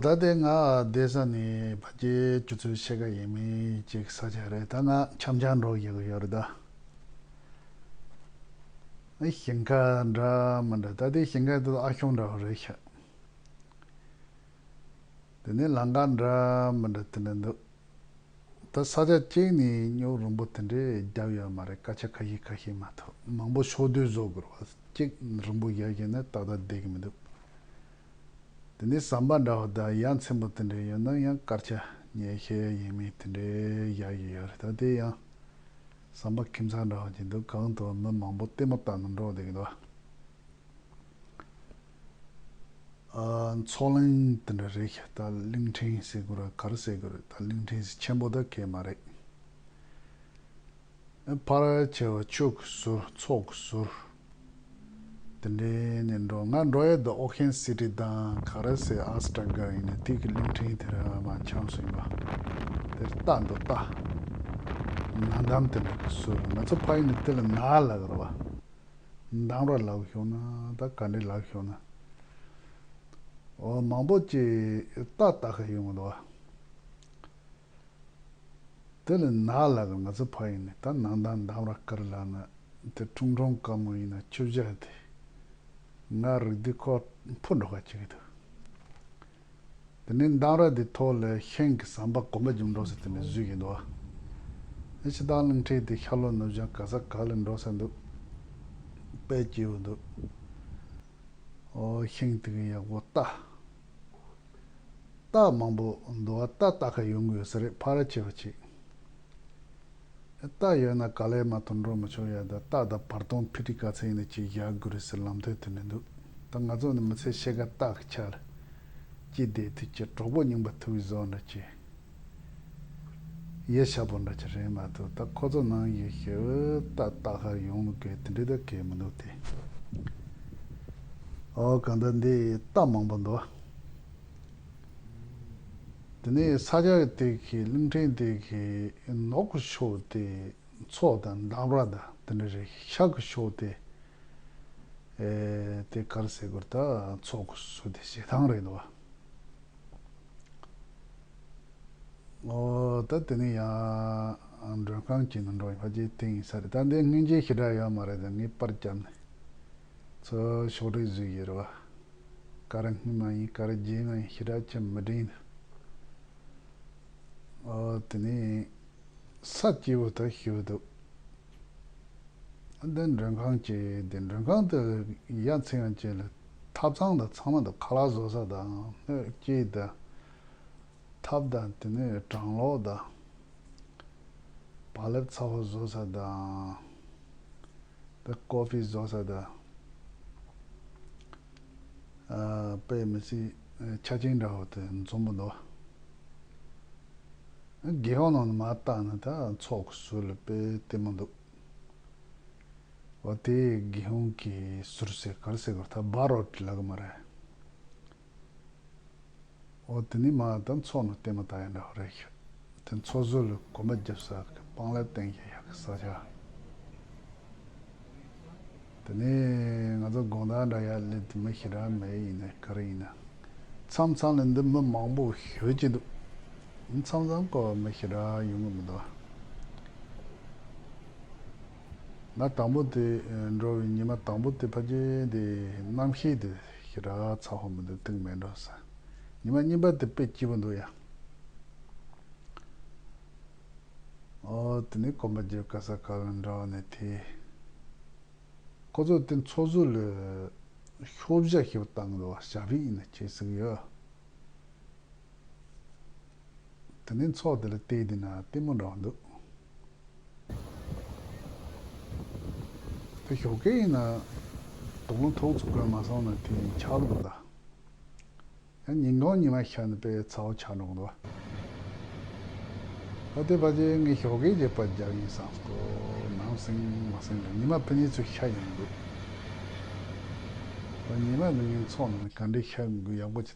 ད་ལྟའི་ང་བསྡད་ས་ནི་བ་རྒྱའི་སྤྱི་ཚོགས་ཕྱེད་ཀ་ཡིན་མིན་གཅིག་ས་ཆ་རེད་ད་ང་འཁྱམ་སྦྱང་འགྲོ་ཡི་ཡོད་རེད་ད། ནི་ཞིང་ཁ་འདྲ་མི་འདྲ་ད་ལྟའི་ཞིང་ཁ་དེ་ཨ་ཁྱུང་འདྲ་བོ་རེད་ཤག། དེ་ནི་ལང་ཀ་འདྲ་མི་འདྲ་དེ་འདྲ་འདུག། ད་ས་ཆ་གཅིག་ནས་སྙོག་རིང་པོ་དེ་འདྲས་བརྒྱབ་ཡོད་མ་རེད་སྐད་ཆ་ཁ་ཤས་ཁ་ཤས་མ་ཐུབ་མང་པོ་ཕྱོགས་བསྡུས་བཟོ་དགོས་བ་གཅིག་རིང་པོ་བརྒྱབ་བཞིན་ནི་ཏག་ཏག་བསྡད་ཀྱི་མི་འདུག་དེ་ནས་ཟམ་པ་འདྲ་བ་དང་ཡ་མཚན་པོ་དེ་འདྲས་ཡོད་ན་ཡང་སྐར་ཆ་ཉེ་ཤས་ཡིན་མིན་དེ་འདྲས་བཞག་གི་ཡོད་རེད་ད་དེ་ཡང་ཟམ་པ་ཁྱིམ་ཚང་འདྲ་བ་གྱི་འདུག་གང་དུ་མི་མང་པོ་ལྟད་མོ་ལྟ་ན་འགྲོ་བསྡད་ཀྱི་འདུག་བ། ཚོགས་གླིང་དེ་འདྲ་རེད་ད་གླིང་ཕྲན་ཟེར་དགོས་ར་ག་ར་ཟེར་དགོས་རེད་ད་གླིང་ཕྲན་ཟེར་ཆེན་པོ་ད་གས་མ་རེད། ཕ་ར་བྱས་བ་ཆོས་ཀྱི་ཟུར་ཚོགས་ཀྱི་ཟུར་དེ་འདྲས་ནས་འགྲོ་ང་འགྲོ་ཡས་ད་ཨོ་ཁན་སི་ཏི་དང་ག་ར་ཟེར་ཨ་སི་ཏྲ་ག་ཡིན་ན་དེ་གི་གླིང་ཕྲན་དེ་ར་མ་འཆམ་སུ་ཡིན་པ་དེ་ར་ལྟ་འདུག་ལྟ། ན་འདམ་དེ་འདྲ་གི་ཟུར་ང་ཚོ་ཕ་ཡིན་ན་དེ་ལ་ན་ལ་ག་ར་བ། འདང་ར་ལགས་ཤོག་ན་ད་ག་འདྲེ་ལགས་ཤོག་ན། འོ་མང་པོ་ཅི་ལྟ་ལྟ་ཁ་ཡོང་གི་འདུག་བ། དེ་ལས་ནག་ལགས་ང་ཚོ་ཕ་ཡིན་ནི་ད་ནང་ད་འདང་ར་ཀར་ལགས་ན་དེ་ཁྲུང་ཁྲུང་དཀའ་མོ་ཡིན་ན་ཁྱོད་བཞག་དེ་ང་རིག་འདི་ཁོ་འཕོ་འགྲོ་ཁ་ཅིག་གི་འདུག། དེ་ནས་མདངས་ར་དེ་ཐོག་ལས་ཤེང་གི་ཟམ་པ་གོང་ཀ་འཇུག་འགྲོ་ཟེར་དེ་ནས་བཟོས་ཀྱི་འདུག་ཨ། ཕྱི་ལྟག་རླུང་འཁྲིགས་ཏེ་ཤར་ལྷོ་ནུབ་བྱང་ག་ས་ག་ལ་འགྲོ་ས་འདུག་དཔལ་སྐྱེའུ་འདུག། ཨོ་ཤིང་དེ་གི་ཡག་པོ་རྟ། རྟ་མང་པོ་འདུག་ཨ་རྟ་རྟ་ཁ་ཡོང་གི་ཡོད་ས་རེད་ཕ་ར་ཆེ་བ་ཆིག། རྟགས་ཡོད་ན་ག་ལེར་མ་ཐོན་འགྲོ་མི་ཆོག་ཡ་ད་རྟགས་དང་བར་སྟོང་ཕི་ཀྲི་ཀ་ཚེ་ཡིན་ན་གཅིག་བཞག་དགོས་རེད་ཟེར་ལམ་ཐོན་དུ་མི་འདུག་ད་ང་ཚོ་ནི་མི་ཚེ་ཕྱེད་ཀ་རྟགས་ཀྱི་ཆར་གྱིས་བདས་དུས་ཀྱི་གྲོགས་པོ་རྙིང་པ་ཐུ་བི་ཟོ་འདྲ་གྱི་ཡེ་ཤ་པོ་འདྲ་གྱི་རེད་མ་གཏོགས་ད་ཁོ་ཚོ་ནང་གི་ཧེ་བི་རྟགས་རྟགས་ཤར་ཡོང་མི་དགོས་དེ་འདྲའི་ད་གལ་མི་འདུག་སྟེ། ཨོ་གང་ལྟར་འདི་རྟགས་མང་པོ་འདུག། དེ་ནས་ས་སྐྱ་གི་སྟེགས་ཀྱི་གླིང་ཕྲན་སྟེགས་ཀྱི་ནོག་གི་ཕྱོགས་ཏེ་མཚོ་དང་མདངས་ར་དང་དེ་ནས་རེ་ཤག་གི་ཕྱོགས་ཏེ། དེ་ཀར་གསེར་གུར་དག་ཚོགས་ཀྱི་གཟུགས་ཏེ་ཞེ་སྡང་རེ་འདུག་གོ། ད་དེ་ནས་ཡང་མགྲོན་ཁང་གྱི་ནང་འགྲོ་ཡིན་པ་ཀྱི་སྟེང་ཡིན་ས་རེད་ད་འདི་སྔོན་རྗེས་ཤི་དྲག་ཡོད་མ་རེད་ད་ངེས་པར་བརྒྱབ་ནས། ཚོ་ཕྱོགས་སྒྲིག་བཟོས་ཡོད་རེད་བ། སྐར་སྔ་མ་ཡིན་སྐར་རྗེས་མ་ཡིན་ཞེ་དྲག་ཅམ་མི་དྲན། ཨོ་དེ་ནས་ས་སྐྱེས་བུ་དག་ཤི་བ་འདུག། བདེན་མགྲོན་ཁང་བཅས་བདེན་མགྲོན་ཁང་དུ་ཡ་མཚན་ཡང་བཅད་ལ་ཐབ་ཚང་དང་ཚང་མ་དུ་ཁ་ལག་བཟོ་ས་དང་སྣོད་སྐྱེལ་དང། ཐབས་དང་དེ་ནས་གྲང་ལོག་དང། བག་ལེབ་ཚ་བོ་བཟོ་ས་དང། དེ་ཀོ་ཕི་བཟོ་ས་དང། པའི་མི་ཚེའི་ཆ་རྐྱེན་འདྲ་བོ་དེ་འཛོམས་པོ་འདུག། རྒྱལ་ཡོངས་ནང་དུ་མ་བརྟགས་ན་ད་ཚོགས་ཀྱི་ཟུར་ལ་དཔེ་ལྟད་མོ་འདུག། འོ་དེ་རྒྱལ་ཡོངས་ཀྱི་ཟུར་ཟེར་གར་ཟེར་གོ་ད་སྦ་རོག་གི་ལག་མ་རེད། འོ་དེ་ནི་མ་དང་ཚོགས་ནི་བསྟན་མ་ད་ཡིན་ནོ་རེད་ཤི་དེ་ཚོགས་གསོལ་ལ་གོ་མ་བརྒྱབ་ས་གི་སྤང་ལ་བསྟན་གྱི་ཡག་གི་ས་ཆ་དེ་ནི་ང་ཚོ་དགོངས་དག་འདྲ་ཡག་ལེ་དེ་མི་ཤི་ར་མེད་ཡིན་ནའི་ག་རེ་ཡིན་ན་མཚམས་མཚམས་ལ་འདི་མི་མང་པོ་ཤོད་ཀྱི་འདུག་མཚམས་མཚམས་སྐོར་བ་མི་ཤི་ར་ཡོང་གི་མི་འདུག་ཨ། ང་དང་པོ་དེ་འགྲོ་བའི་ཉི་མ་དང་པོ་དེ་ཕ་རྒྱལ་དེ་རྣམ་ཤེས་དེ་ཤི་ར་ཚ་ཧོ་མི་འདུག་དུག་མེད་འགྲོ་ས་ཉི་མ་གཉིས་པ་དེ་དཔེ་སྐྱིད་པོ་འདུག་ཡ། ཨོ་དེ་ནི་གོམ་པ་རྒྱལ་བཀའ་ས་ག་ལ་འདྲ་བ་ནས་དེ། ཁོ་ཚོས་དེ་འཚོ་བཟོ་ལས་ཤོ་བཞག་ཞེས་པ་བཏང་གི་འདུག་བ་ཞག་རིག་ཡིན་ན་ཁྱེད་གཟིགས་ཡོད་ཨ། དེ་ནས་ཚོགས་དེ་ལ་བལྟས་དེ་ན་ལྟད་མོ་འདྲ་བ་འདུག། དེ་ཞོགས་ཀའི་ཡིན་ན། དོགས་སློང་ཐོག་ཚུགས་ཀར་མ་སོང་ན་དེ་ཡིན་ཆགས་འདུག་གདའ། ཡང་ཉིན་གང་ཉི་མ་ཤར་ནས་པས་ཚ་བོ་ཆགས་འགྲོ་གདའ། ད་ལྟའི་བར་གྱི་ངས་ཞོགས་ཀའི་རྗེས་པར་རྒྱག་ཡིན་བསམ་སོ། ནང་སེང་མ་སེང་དང་ཉི་མ་ཕན་ནི་ཚོས་ཤ་ཡང་འདུག། ད་ཉི་མ་འདི་ངས་ཚོགས་ནང་ནས་ག་འདྲའི་ཤ་འགུལ་ཡག་པོ་བྱས།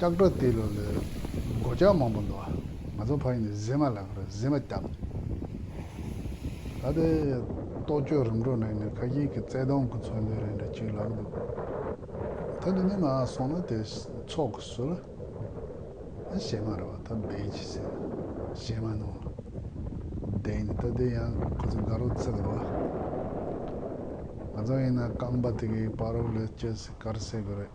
ལྕགས་སྒྲོག་དེའི་ལོ་ལོའི། སྒོ་ལྕགས་མང་པོ་འདུག། ང་ཚོ་ཕ་ཡུལ་ནས་གཟིམ་མ་ལག་རེད་གཟིམ་མ་བརྒྱབ། ད་ལྟའི་རྟོག་དཔྱོད་རིམ་གྲོ་ནང་ནས་ཁ་ཞིག་གི་བརྩེ་གདུང་གི་མཚོན་དོན་རེ་འདྲ་གཅིག་ལགས་འདུག། ད་འདི་ནས་ནང་སོང་ན་དེ་ཚོགས་ཀྱི་སུ་ལ། གཞས་མ་རེད་བ་ད་སྦས་ཀྱི་ཟེར། གཞས་མ་ནང་ལ། བསྡད་ནས་ད་དེ་ཡང་ཁོ་ཚོ་དགའ་རོགས་བརྩེ་གི་རོགས། ང་ཚོ་ཡིན་ན་རྐང་པ་དེ་གའི་པར་རོ་ལས་སྐྱེལ་སའི་དཀར་ཟས་གི་རེད།